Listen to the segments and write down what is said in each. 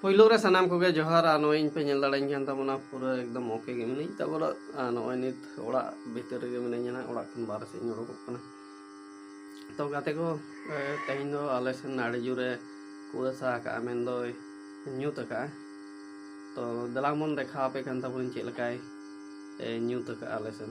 ᱯᱳᱭᱞᱳ ᱨᱮ ᱥᱟᱱᱟᱢ ᱠᱚᱜᱮ ᱡᱚᱦᱟᱨ ᱟᱨ ᱱᱚᱜᱼᱚᱭ ᱤᱧ ᱯᱮ ᱧᱮᱞ ᱫᱟᱲᱮᱧ ᱠᱟᱱ ᱛᱟᱵᱚᱱᱟ ᱯᱩᱨᱟᱹ ᱮᱠᱫᱚᱢ ᱳᱠᱮ ᱜᱮ ᱢᱤᱱᱟᱹᱧ ᱛᱟᱵᱚᱱᱟ ᱟᱨ ᱱᱚᱜᱼᱚᱭ ᱱᱤᱛ ᱚᱲᱟᱜ ᱵᱷᱤᱛᱤᱨ ᱨᱮᱜᱮ ᱢᱤᱱᱟᱹᱧᱟ ᱱᱟᱜ ᱚᱲᱟᱜ ᱠᱷᱚᱱ ᱵᱟᱨᱦᱮ ᱥᱮᱫ ᱤᱧ ᱩᱰᱩᱠᱚᱜ ᱠᱟᱱᱟ ᱛᱚ ᱜᱟᱛᱮ ᱠᱚ ᱛᱮᱦᱮᱧ ᱫᱚ ᱟᱞᱮ ᱥᱮᱱ ᱟᱹᱰᱤ ᱡᱳᱨᱮ ᱠᱩᱣᱟᱹᱥᱟ ᱟᱠᱟᱜᱼᱟ ᱢᱮᱱᱫᱚᱭ ᱧᱩᱛ ᱟᱠᱟᱜᱼᱟ ᱛᱚ ᱫᱮᱞᱟ ᱵᱚᱱ ᱫᱮᱠᱷᱟᱣ ᱟᱯᱮ ᱠᱟᱱ ᱛᱟᱵᱚᱱᱟᱹᱧ ᱪᱮᱫ ᱞᱮᱠᱟᱭ ᱧᱩᱛ ᱟᱠᱟᱜᱼᱟ ᱟᱞᱮ ᱥᱮᱱ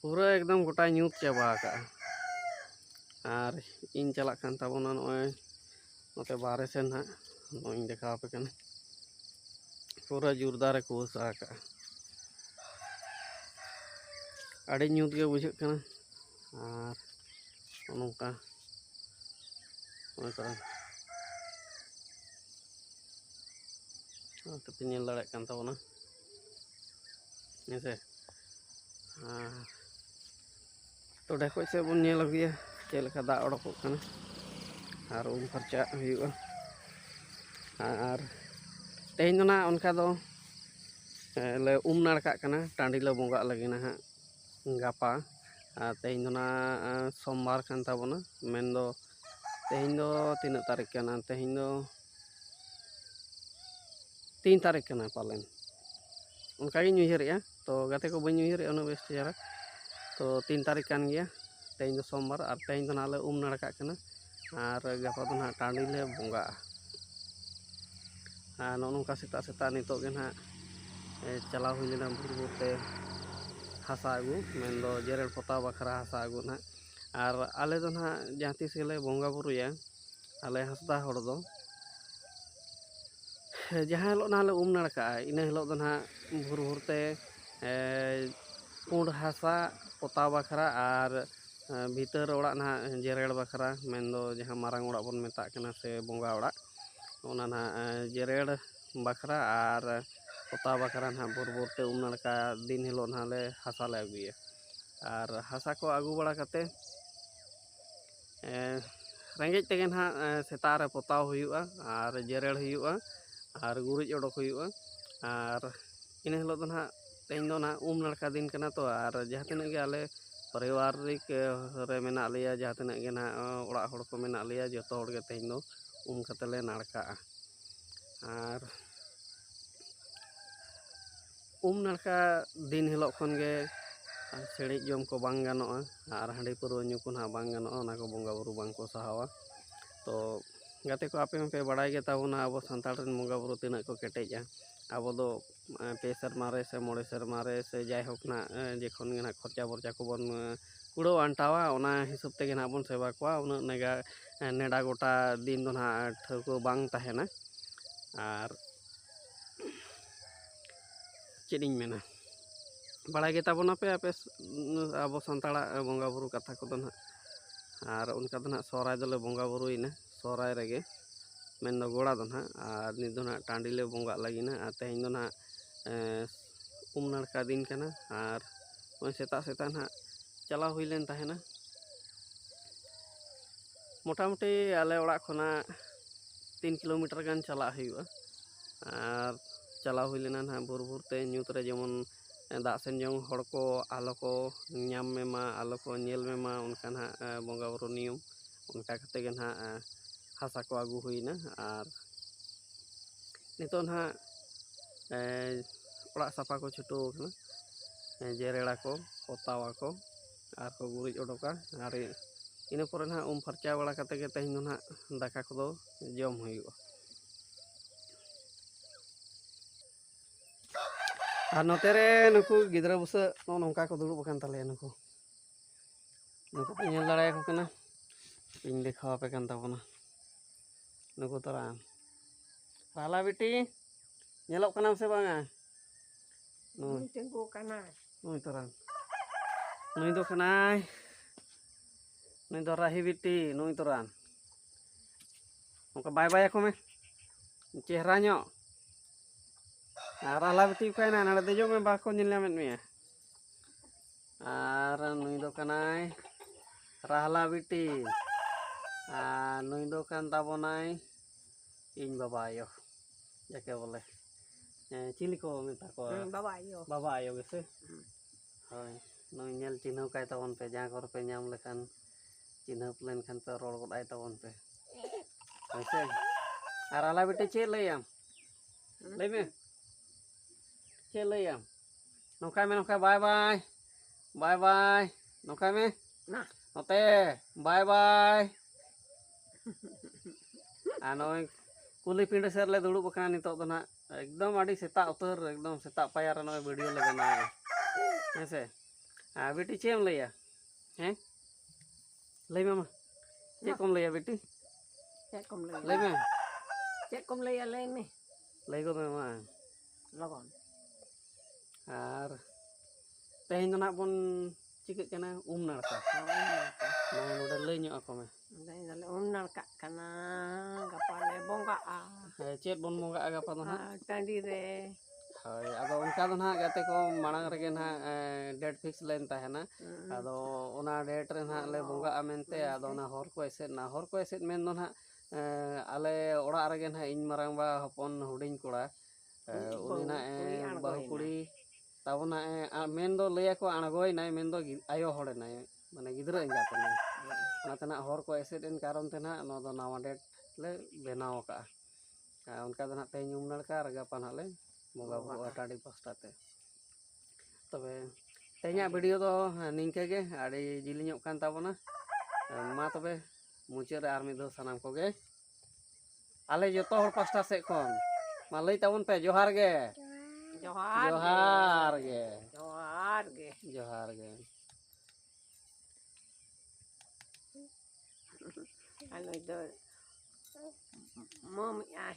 ᱯᱩᱨᱟᱹ ᱮᱠᱫᱚᱢ ᱜᱚᱴᱟ ᱧᱩᱛ ᱪᱟᱵᱟ ᱟᱠᱟᱜᱼᱟ ᱟᱨ ᱤᱧ ᱪᱟᱞᱟᱜ ᱠᱟᱱ ᱛᱟᱵᱚᱱᱟ ᱱᱚᱜᱼᱚᱭ ᱱᱚᱛᱮ ᱵᱟᱦᱨᱮ ᱥᱮᱱ ᱦᱟᱸᱜ ᱱᱚᱜᱼᱚᱭ ᱤᱧ ᱫᱮᱠᱷᱟᱣ ᱟᱯᱮ ᱠᱟᱱᱟ ᱯᱩᱨᱟᱹ ᱡᱳᱨᱫᱟᱨᱮ ᱠᱩᱣᱟᱹᱥᱟ ᱟᱠᱟᱜᱼᱟ ᱟᱹᱰᱤ ᱧᱩᱛ ᱜᱮ ᱵᱩᱡᱷᱟᱹᱜ ᱠᱟᱱᱟ ᱟᱨ ᱱᱚᱝᱠᱟ ᱱᱚᱝᱠᱟ ᱱᱚᱛᱮ ᱯᱮ ᱧᱮᱞ ᱫᱟᱲᱮᱭᱟᱜ ᱠᱟᱱ ᱛᱟᱵᱚᱱᱟ ᱦᱮᱸᱥᱮ ᱟᱨ ᱴᱚᱰᱮ ᱠᱷᱚᱡ ᱥᱮᱫ ᱵᱚᱱ ᱧᱮᱞ ᱟᱹᱜᱩᱭᱟ ᱪᱮᱫ ᱞᱮᱠᱟ ᱫᱟᱜ ᱚᱰᱚᱠᱚᱜ ᱠᱟᱱᱟ ᱟᱨ ᱩᱢ ᱯᱷᱟᱨᱪᱟᱜ ᱦᱩᱭᱩᱜᱼᱟ ᱟᱨ ᱛᱮᱦᱮᱧ ᱫᱚ ᱱᱟᱦᱟᱜ ᱚᱱᱠᱟ ᱫᱚ ᱞᱮ ᱩᱢ ᱱᱟᱲᱠᱟᱜ ᱠᱟᱱᱟ ᱴᱟᱺᱰᱤ ᱞᱮ ᱵᱚᱸᱜᱟᱜ ᱞᱟᱹᱜᱤᱫ ᱱᱟᱦᱟᱜ ᱜᱟᱯᱟ ᱟᱨ ᱛᱮᱦᱮᱧ ᱫᱚ ᱱᱟᱦᱟᱜ ᱥᱳᱢᱵᱟᱨ ᱠᱟᱱ ᱛᱟᱵᱚᱱᱟ ᱢᱮᱱᱫᱚ ᱛᱮᱦᱮᱧ ᱫᱚ ᱛᱤᱱᱟᱹᱜ ᱛᱟᱹᱨᱤᱠᱷ ᱠᱟᱱᱟ ᱛᱮᱦᱮᱧ ᱫᱚ ᱛᱤᱱ ᱛᱟᱹᱨᱤᱠᱷ ᱠᱟᱱᱟ ᱯᱟᱞᱮᱱ ᱚᱱᱠᱟᱜᱤᱧ ᱩᱭᱦᱟᱹᱨᱮᱜᱼᱟ ᱛᱚ ᱜᱟᱛᱮ ᱠᱚ ᱵᱟᱹᱧ ᱩᱭᱦᱟᱹᱨᱮᱜᱼᱟ ᱩᱱᱟᱹᱜ ᱵᱮᱥ ᱪᱮᱦᱨᱟ ᱛᱚ ᱛᱤᱱ ᱛᱟᱹᱨᱤᱠᱷ ᱠᱟᱱ ᱜᱮᱭᱟ ᱛᱮᱦᱮᱧ ᱫᱚ ᱥᱳᱢᱵᱟᱨ ᱟᱨ ᱛᱮᱦᱮᱧ ᱫᱚ ᱱᱟᱦᱟᱜ ᱞᱮ ᱩᱢ ᱱᱟᱲᱠᱟᱜ ᱠᱟᱱᱟ ᱟᱨ ᱜᱟᱯᱟ ᱫᱚ ᱱᱟᱦᱟᱜ ᱴᱟᱺᱰᱤ ᱞᱮ ᱵᱚᱸᱜᱟᱜᱼᱟ ᱟᱨ ᱱᱚᱜᱼᱚ ᱱᱚᱝᱠᱟ ᱥᱮᱛᱟᱜ ᱥᱮᱛᱟᱜ ᱱᱤᱛᱚᱜ ᱜᱮ ᱱᱟᱦᱟᱜ ᱪᱟᱞᱟᱣ ᱦᱩᱭ ᱞᱮᱱᱟ ᱵᱷᱳᱨ ᱵᱷᱳᱨ ᱛᱮ ᱦᱟᱥᱟ ᱟᱹᱜᱩ ᱢᱮᱱᱫᱚ ᱡᱮᱨᱮᱲ ᱯᱚᱛᱟᱣ ᱵᱟᱠᱷᱨᱟ ᱦᱟᱥᱟ ᱟᱹᱜᱩ ᱱᱟᱦᱟᱜ ᱟᱨ ᱟᱞᱮ ᱫᱚ ᱱᱟᱦᱟᱜ ᱡᱟᱦᱟᱸ ᱛᱤᱥ ᱜᱮᱞᱮ ᱵᱚᱸᱜᱟ ᱵᱳᱨᱳᱭᱟ ᱟᱞᱮ ᱦᱟᱸᱥᱫᱟ ᱦᱚᱲ ᱫᱚ ᱡᱟᱦᱟᱸ ᱦᱤᱞᱳᱜ ᱱᱟᱦᱟᱜ ᱞᱮ ᱩᱢ ᱱᱟᱲᱠᱟᱜᱼᱟ ᱤᱱᱟᱹ ᱦᱤᱞᱳᱜ ᱫᱚ ᱱᱟᱦᱟᱜ ᱵᱷᱳᱨ ᱵᱷᱳᱨ ᱛᱮ ᱯᱩᱸᱰ ᱦᱟᱥᱟ ᱯᱚᱛᱟᱣ ᱵᱟᱠᱷᱨᱟ ᱟᱨ ᱵᱷᱤᱛᱟᱹᱨ ᱚᱲᱟᱜ ᱱᱟᱦᱟᱜ ᱡᱮᱨᱮᱲ ᱵᱟᱠᱷᱨᱟ ᱢᱮᱱ ᱫᱚ ᱡᱟᱦᱟᱸ ᱢᱟᱨᱟᱝ ᱚᱲᱟᱜ ᱵᱚᱱ ᱢᱮᱛᱟᱜ ᱠᱟᱱᱟ ᱥᱮ ᱵᱚᱸᱜᱟ ᱚᱲᱟᱜ ᱚᱱᱟ ᱱᱟᱦᱟᱜ ᱡᱮᱨᱮᱲ ᱵᱟᱠᱷᱨᱟ ᱟᱨ ᱯᱚᱛᱟᱣ ᱵᱟᱠᱷᱨᱟ ᱱᱟᱦᱟᱜ ᱵᱷᱳᱨ ᱵᱷᱳᱨ ᱛᱮ ᱩᱢ ᱱᱟᱲᱠᱟ ᱫᱤᱱ ᱦᱤᱞᱳᱜ ᱱᱟᱦᱟᱜ ᱞᱮ ᱦᱟᱥᱟ ᱞᱮ ᱟᱹᱜᱩᱭᱟ ᱟᱨ ᱦᱟᱥᱟ ᱠᱚ ᱟᱹᱜᱩ ᱵᱟᱲᱟ ᱠᱟᱛᱮ ᱨᱮᱸᱜᱮᱡ ᱛᱮᱜᱮ ᱱᱟᱦᱟᱜ ᱥᱮᱛᱟᱜ ᱨᱮ ᱯᱚᱛᱟᱣ ᱦᱩᱭᱩᱜᱼᱟ ᱟᱨ ᱡᱮᱨᱮᱲ ᱦᱩᱭᱩᱜᱼᱟ ᱟᱨ ᱜᱩᱨᱤᱡ ᱚᱰᱚᱠ ᱦᱩᱭᱩᱜᱼᱟ ᱟᱨ ᱤᱱᱟᱹ ᱦᱤᱞᱳᱜ ᱫᱚ ᱱᱟᱦᱟᱜ ᱛᱮᱦᱮᱧ ᱫᱚ ᱱᱟᱦᱟᱜ ᱩᱢ ᱱᱟᱲᱠᱟ ᱫᱤᱱ ᱠᱟᱱᱟ ᱛᱚ ᱟᱨ ᱡᱟᱦᱟᱸ ᱛᱤᱱᱟᱹᱜ ᱜᱮ ᱟᱞᱮ ᱯᱟᱨᱤᱵᱟᱨᱤᱠ ᱨᱮ ᱢᱮᱱᱟᱜ ᱞᱮᱭᱟ ᱡᱟᱦᱟᱸ ᱛᱤᱱᱟᱹᱜ ᱜᱮ ᱱᱟᱦᱟᱜ ᱚᱲᱟᱜ ᱦᱚᱲ ᱠᱚ ᱢᱮᱱᱟᱜ ᱞᱮᱭᱟ ᱡᱚᱛᱚ ᱦᱚᱲ ᱜᱮ ᱛᱮᱦᱮᱧ ᱫᱚ ᱩᱢ ᱠᱟᱛᱮ ᱞᱮ ᱱᱟᱲᱠᱟᱜᱼᱟ ᱟᱨ ᱩᱢ ᱱᱟᱲᱠᱟ ᱫᱤᱱ ᱦᱤᱞᱳᱜ ᱠᱷᱚᱱ ᱜᱮ ᱥᱤᱬᱤᱡ ᱡᱚᱢ ᱠᱚ ᱵᱟᱝ ᱜᱟᱱᱚᱜᱼᱟ ᱟᱨ ᱦᱟᱺᱰᱤ ᱯᱟᱹᱣᱨᱟᱹ ᱧᱩ ᱠᱚ ᱱᱟᱦᱟᱜ ᱵᱟᱝ ᱜᱟᱱᱚᱜᱼᱟ ᱚᱱᱟ ᱠᱚ ᱵᱚᱸᱜᱟ ᱵᱳᱨᱳ ᱵᱟᱝ ᱠᱚ ᱥᱟᱦᱟᱣᱟ ᱛᱚ ᱜᱟᱛᱮ ᱠᱚ ᱟᱯᱮ ᱦᱚᱸᱯᱮ ᱵᱟᱲᱟᱭ ᱜᱮᱛᱟ ᱵᱚᱱᱟ ᱟᱵᱚ ᱥᱟᱱᱛᱟᱲ ᱨᱮᱱ ᱵᱚᱸᱜᱟ ᱵᱳᱨᱳ ᱛᱤᱱᱟᱹᱜ ᱠᱚ ᱠᱮᱴᱮᱡᱼᱟ ᱟᱵᱚ ᱫᱚ ᱯᱮ ᱥᱮᱨᱢᱟ ᱨᱮ ᱥᱮ ᱢᱚᱬᱮ ᱥᱮᱨᱢᱟ ᱨᱮ ᱥᱮ ᱡᱟᱭᱦᱳᱠ ᱱᱟᱜ ᱡᱚᱠᱷᱚᱱ ᱜᱮ ᱱᱟᱜ ᱠᱷᱚᱨᱪᱟ ᱵᱚᱨᱪᱟ ᱠᱚᱵᱚᱱ ᱠᱩᱲᱟᱹᱣ ᱟᱱᱴᱟᱣᱟ ᱚᱱᱟ ᱦᱤᱥᱟᱹᱵ ᱛᱮᱜᱮ ᱱᱟᱜ ᱵᱚᱱ ᱥᱮᱵᱟ ᱠᱚᱣᱟ ᱩᱱᱟᱹᱜ ᱱᱮᱜᱟ ᱱᱮᱰᱟ ᱜᱚᱴᱟ ᱫᱤᱱ ᱫᱚ ᱱᱟᱜ ᱴᱷᱟᱹᱣᱠᱟᱹ ᱵᱟᱝ ᱛᱟᱦᱮᱱᱟ ᱟᱨ ᱪᱮᱫ ᱤᱧ ᱢᱮᱱᱟ ᱵᱟᱲᱟᱭ ᱜᱮᱛᱟ ᱵᱚᱱᱟ ᱯᱮ ᱟᱯᱮ ᱟᱵᱚ ᱥᱟᱱᱛᱟᱲᱟᱜ ᱵᱚᱸᱜᱟ ᱵᱳᱨᱳ ᱠᱟᱛᱷᱟ ᱠᱚᱫᱚ ᱦᱟᱸᱜ ᱟᱨ ᱚᱱᱠᱟ ᱫᱚ ᱦᱟᱸᱜ ᱥᱚᱦᱨᱟᱭ ᱫᱚᱞᱮ ᱵᱚᱸᱜᱟ ᱵᱳᱨᱳᱭᱮᱱᱟ ᱥᱚᱦᱨᱟᱭ ᱨᱮᱜᱮ ᱢᱮᱱᱫᱚ ᱜᱚᱲᱟ ᱫᱚ ᱦᱟᱸᱜ ᱟᱨ ᱱᱤᱛ ᱫᱚ ᱦᱟᱸᱜ ᱴᱟᱺᱰᱤ ᱞᱮ ᱵᱚᱸᱜᱟᱜ ᱞᱟᱹᱜᱤᱫ ᱦᱟᱸᱜ ᱟᱨ ᱛᱮᱦᱮᱧ ᱫᱚ ᱦᱟᱸᱜ ᱩᱢ ᱱᱟᱲᱠᱟ ᱫᱤᱱ ᱠᱟᱱᱟ ᱟᱨ ᱱᱚᱜᱼᱚᱭ ᱥᱮᱛᱟᱜ ᱥᱮᱛᱟᱜ ᱦᱟᱸᱜ ᱪᱟᱞᱟᱣ ᱦᱩᱭ ᱞᱮᱱ ᱛᱟᱦᱮᱱᱟ ᱢᱚᱴᱟᱢᱩᱴᱤ ᱟᱞᱮ ᱚᱲᱟᱜ ᱠᱷᱚᱱᱟᱜ ᱛᱤᱱ ᱠᱤᱞᱳᱢᱤᱴᱟᱨ ᱜᱟᱱ ᱪᱟᱞᱟᱜ ᱦᱩᱭᱩᱜᱼᱟ ᱟᱨ ᱪᱟᱞᱟᱣ ᱦᱩᱭ ᱞᱮᱱᱟ ᱱᱟᱦᱟᱜ ᱵᱷᱳᱨ ᱵᱷᱳᱨ ᱛᱮ ᱧᱩᱛ ᱨᱮ ᱡᱮᱢᱚᱱ ᱫᱟᱜ ᱥᱮᱱ ᱡᱮᱢᱚᱱ ᱦᱚᱲ ᱠᱚ ᱟᱞᱚ ᱠᱚ ᱧᱟᱢ ᱢᱮ ᱢᱟ ᱟᱞᱚ ᱠᱚ ᱧᱮᱞ ᱢᱮ ᱢᱟ ᱚᱱᱠᱟ ᱱᱟᱦᱟᱜ ᱵᱚᱸᱜᱟ ᱵᱳᱨᱳ ᱱᱤᱭᱚᱢ ᱚᱱᱠᱟ ᱠᱟᱛᱮ ᱜᱮ ᱱᱟᱦᱟᱜ ᱦᱟᱥᱟ ᱠᱚ ᱟᱹᱜᱩ ᱦᱩᱭᱱᱟ ᱟᱨ ᱱᱤᱛᱚᱜ ᱱᱟᱦᱟᱜ ᱚᱲᱟᱜ ᱥᱟᱯᱷᱟ ᱠᱚ ᱪᱷᱩᱴᱟᱹᱣ ᱠᱟᱱᱟ ᱡᱮᱨᱮᱲ ᱟᱠᱚ ᱯᱚᱛᱟᱣ ᱟᱠᱚ ᱟᱨ ᱠᱚ ᱜᱩᱨᱤᱡ ᱚᱰᱚᱠᱟ ᱟᱨ ᱤᱱᱟᱹ ᱯᱚᱨᱮ ᱱᱟᱦᱟᱜ ᱩᱢ ᱯᱷᱟᱨᱪᱟ ᱵᱟᱲᱟ ᱠᱟᱛᱮ ᱜᱮ ᱛᱮᱦᱮᱧ ᱫᱚ ᱱᱟᱦᱟᱜ ᱫᱟᱠᱟ ᱠᱚᱫᱚ ᱡᱚᱢ ᱦᱩᱭᱩᱜᱼᱟ ᱟᱨ ᱱᱚᱛᱮ ᱨᱮ ᱱᱩᱠᱩ ᱜᱤᱫᱽᱨᱟᱹ ᱵᱩᱥᱟᱹᱜ ᱱᱚᱜᱼᱚ ᱱᱚᱝᱠᱟ ᱠᱚ ᱫᱩᱲᱩᱵ ᱟᱠᱟᱱ ᱛᱟᱞᱮᱭᱟ ᱱᱩᱠᱩ ᱱᱩᱠᱩ ᱯᱮ ᱧᱮᱞ ᱫᱟᱲᱮᱭᱟᱠᱚ ᱠᱟᱱᱟ ᱤᱧ ᱫᱮᱠᱷᱟᱣ ᱟᱯᱮ ᱠᱟᱱ ᱛᱟᱵᱚᱱᱟ ᱱᱩᱠᱩ ᱛᱚᱨᱟ ᱨᱟᱦᱞᱟ ᱵᱤᱴᱤ ᱧᱮᱞᱚᱜ ᱠᱟᱱᱟᱢ ᱥᱮ ᱵᱟᱝᱟ ᱛᱤᱸᱜᱩ ᱠᱟᱱᱟ ᱱᱩᱭ ᱛᱚᱨᱟᱝ ᱱᱩᱭ ᱫᱚ ᱠᱟᱱᱟᱭ ᱱᱩᱭ ᱫᱚ ᱨᱟᱦᱤ ᱵᱤᱴᱤ ᱱᱩᱭ ᱛᱚᱨᱟᱝ ᱚᱱᱠᱟ ᱵᱟᱭ ᱵᱟᱭ ᱟᱠᱚ ᱢᱮ ᱪᱮᱦᱨᱟ ᱧᱚᱜ ᱟᱨ ᱨᱟᱦᱞᱟ ᱵᱤᱴᱤ ᱚᱠᱟᱭᱮᱱᱟ ᱱᱚᱰᱮ ᱫᱮᱡᱚᱜ ᱢᱮ ᱵᱟᱠᱚ ᱧᱮᱞ ᱧᱟᱢᱮᱫ ᱢᱮᱭᱟ ᱟᱨ ᱱᱩᱭ ᱫᱚ ᱠᱟᱱᱟᱭ ᱨᱟᱦᱞᱟ ᱵᱤᱴᱤ ᱟᱨ ᱱᱩᱭ ᱫᱚ ᱠᱟᱱ ᱛᱟᱵᱚᱱᱟᱭ ᱤᱧ ᱵᱟᱵᱟ ᱟᱭᱳ ᱡᱟᱠᱮ ᱵᱚᱞᱮ ᱪᱤᱞᱤ ᱠᱚ ᱢᱮᱛᱟ ᱠᱚᱣᱟ ᱵᱟᱵᱟ ᱟᱭᱳ ᱵᱟᱵᱟ ᱟᱭᱳ ᱜᱮᱥᱮ ᱦᱳᱭ ᱱᱩᱭ ᱧᱮᱞ ᱪᱤᱱᱦᱟᱹᱣ ᱠᱟᱭ ᱛᱟᱵᱚᱱ ᱯᱮ ᱡᱟᱦᱟᱸ ᱠᱚᱨᱮ ᱯᱮ ᱧᱟᱢ ᱞᱮᱠᱷᱟᱱ ᱪᱤᱱᱦᱟᱹᱣ ᱞᱮᱱᱠᱷᱟᱱ ᱯᱮ ᱨᱚᱲ ᱜᱚᱫ ᱟᱭ ᱛᱟᱵᱚᱱ ᱯᱮ ᱦᱳᱭᱥᱮ ᱟᱨ ᱟᱞᱟ ᱵᱤᱴᱤ ᱪᱮᱫ ᱞᱟᱹᱭᱟᱢ ᱞᱟᱹᱭ ᱢᱮ ᱪᱮᱫ ᱞᱟᱹᱭᱟᱢ ᱱᱚᱝᱠᱟ ᱢᱮ ᱱᱚᱝᱠᱟ ᱵᱟᱭ ᱵᱟᱭ ᱵᱟᱭ ᱵᱟᱭ ᱱᱚᱝᱠᱟᱭ ᱢᱮ ᱱᱚᱛᱮ ᱵᱟᱭ ᱵᱟᱭ ᱟᱨ ᱱᱚᱜᱼᱚᱭ ᱠᱩᱞᱦᱤ ᱯᱤᱸᱰᱟᱹ ᱥᱮᱫ ᱨᱮᱞᱮ ᱫᱩᱲᱩᱵ ᱟᱠᱟᱱᱟ ᱱᱤᱛᱚᱜ ᱫᱚ ᱱᱟᱜ ᱮᱠᱫᱚᱢ ᱟᱹᱰᱤ ᱥᱮᱛᱟᱜ ᱩᱛᱟᱹᱨ ᱮᱠᱫᱚᱢ ᱥᱮᱛᱟᱜ ᱯᱟᱭᱟᱨ ᱨᱮ ᱱᱚᱜᱼᱚᱭ ᱵᱷᱤᱰᱤᱭᱳ ᱞᱮ ᱵᱮᱱᱟᱣᱟ ᱦᱮᱸ ᱥᱮ ᱟᱨ ᱵᱤᱴᱤ ᱪᱮᱫ ᱮᱢ ᱞᱟᱹᱭᱟ ᱦᱮᱸ ᱞᱟᱹᱭ ᱢᱮ ᱢᱟ ᱪᱮᱫ ᱠᱚᱢ ᱞᱟᱹᱭᱟ ᱵᱤᱴᱤ ᱪᱮᱫ ᱠᱚᱢ ᱞᱟᱹᱭᱟ ᱞᱟᱹᱭ ᱢᱮ ᱪᱮᱫ ᱠᱚᱢ ᱞᱟᱹᱭᱟ ᱞᱟᱹᱭ ᱢᱮ ᱞᱟᱹᱭ ᱜᱚᱫ ᱢᱮ ᱢᱟ ᱞᱚᱜᱚᱱ ᱟᱨ ᱛᱮᱦᱮᱧ ᱫᱚ ᱱᱟᱜ ᱵᱚᱱ ᱪᱤᱠᱟᱹᱜ ᱠᱟᱱᱟ ᱩᱢ ᱱᱟᱲᱠᱟ ᱱᱚᱰᱮ ᱞᱟᱹᱭ ᱧᱚᱜ ᱟᱠᱚ ᱢᱮ ᱞᱟᱹᱭ ᱫᱟᱞᱮ ᱩᱢ ᱱᱟᱲᱠᱟᱜ ᱠᱟᱱᱟ ᱜᱟᱯᱟ ᱞᱮ ᱵᱚᱸᱜᱟᱜᱼᱟ ᱪᱮᱫ ᱵᱚᱱ ᱵᱚᱸᱜᱟᱜᱼᱟ ᱜᱟᱯᱟ ᱫᱚ ᱱᱟᱜ ᱴᱟᱺᱰᱤ ᱨᱮ ᱦᱳᱭ ᱟᱫᱚ ᱚᱱᱠᱟ ᱫᱚ ᱱᱟᱦᱟᱜ ᱜᱟᱛᱮ ᱠᱚ ᱢᱟᱲᱟᱝ ᱨᱮᱜᱮ ᱱᱟᱦᱟᱜ ᱰᱮᱴ ᱯᱷᱤᱠᱥ ᱞᱮᱱ ᱛᱟᱦᱮᱱᱟ ᱟᱫᱚ ᱚᱱᱟ ᱰᱮᱴ ᱨᱮ ᱱᱟᱦᱟᱜ ᱞᱮ ᱵᱚᱸᱜᱟᱜᱼᱟ ᱢᱮᱱᱛᱮ ᱟᱫᱚ ᱚᱱᱟ ᱦᱚᱨ ᱠᱚ ᱮᱥᱮᱫ ᱮᱱᱟ ᱦᱚᱨ ᱠᱚ ᱮᱥᱮᱫ ᱢᱮᱱ ᱫᱚ ᱱᱟᱦᱟᱜ ᱟᱞᱮ ᱚᱲᱟᱜ ᱨᱮᱜᱮ ᱱᱟᱦᱟᱜ ᱤᱧ ᱢᱟᱨᱟᱝᱵᱟ ᱦᱚᱯᱚᱱ ᱦᱩᱰᱤᱧ ᱠᱚᱲᱟ ᱩᱱᱤ ᱱᱟᱜ ᱮ ᱵᱟᱹᱦᱩ ᱠᱩᱲᱤ ᱛᱟᱵᱚ ᱱᱟᱜ ᱮ ᱢᱮᱱ ᱫᱚ ᱞᱟᱹᱭ ᱟᱠᱚ ᱟᱬᱜᱚᱭᱮᱱᱟᱭ ᱢᱮᱱ ᱫᱚ ᱟᱭᱳ ᱦᱚᱲ ᱮᱱᱟᱭ ᱢᱟᱱᱮ ᱜᱤᱫᱽᱨᱟᱹ ᱮᱸᱜᱟᱛ ᱮᱱᱟᱭ ᱚᱱᱟᱛᱮ ᱱᱟᱜ ᱦᱚᱲ ᱠᱚ ᱮᱥᱮᱫ ᱮᱱ ᱠᱟᱨᱚᱱ ᱛᱮ ᱱᱟᱜ ᱱᱚᱣᱟ ᱫᱚ ᱱᱟᱣᱟ ᱰᱮᱴ ᱞᱮ ᱵᱮᱱᱟᱣ ᱟᱠᱟᱜᱼᱟ ᱟᱨ ᱚᱱᱠᱟ ᱫᱚ ᱱᱟᱜ ᱛᱮᱦᱮᱧ ᱩᱢ ᱱᱟᱲᱠᱟ ᱟᱨ ᱜᱟᱯᱟ ᱱᱟᱜ ᱞᱮ ᱵᱚᱸᱜᱟ ᱵᱩᱨᱩᱜᱼᱟ ᱴᱟᱺᱰᱤ ᱯᱟᱥᱴᱟ ᱛᱮ ᱛᱚᱵᱮ ᱛᱮᱦᱮᱧᱟᱜ ᱵᱷᱤᱰᱤᱭᱳ ᱫᱚ ᱱᱤᱝᱠᱟᱹ ᱜᱮ ᱟᱹᱰᱤ ᱡᱤᱞᱤᱧᱚᱜ ᱠᱟᱱ ᱛᱟᱵᱚᱱᱟ ᱢᱟ ᱛᱚᱵᱮ ᱢᱩᱪᱟᱹᱫ ᱨᱮ ᱟᱨ ᱢᱤᱫ ᱫᱷᱟᱣ ᱥᱟᱱᱟᱢ ᱠᱚᱜᱮ ᱟᱞᱮ ᱡᱚᱛᱚ ᱦᱚᱲ ᱯᱟᱥᱴᱟ ᱥᱮᱫ ᱠᱷᱚᱱ ᱢᱟ ᱞᱟᱹᱭ ᱛᱟᱵᱚᱱ ᱯᱮ ᱡᱚᱦᱟᱨ ᱜᱮ ᱡᱚᱦᱟᱨ ᱡᱚᱦᱟᱨ ᱜᱮ ᱡᱚᱦᱟᱨ ᱜᱮ ᱡᱚᱦᱟᱨ ᱜᱮ ᱟᱞᱮ ᱫᱚ ᱢᱟᱹᱢᱤ ᱟᱭ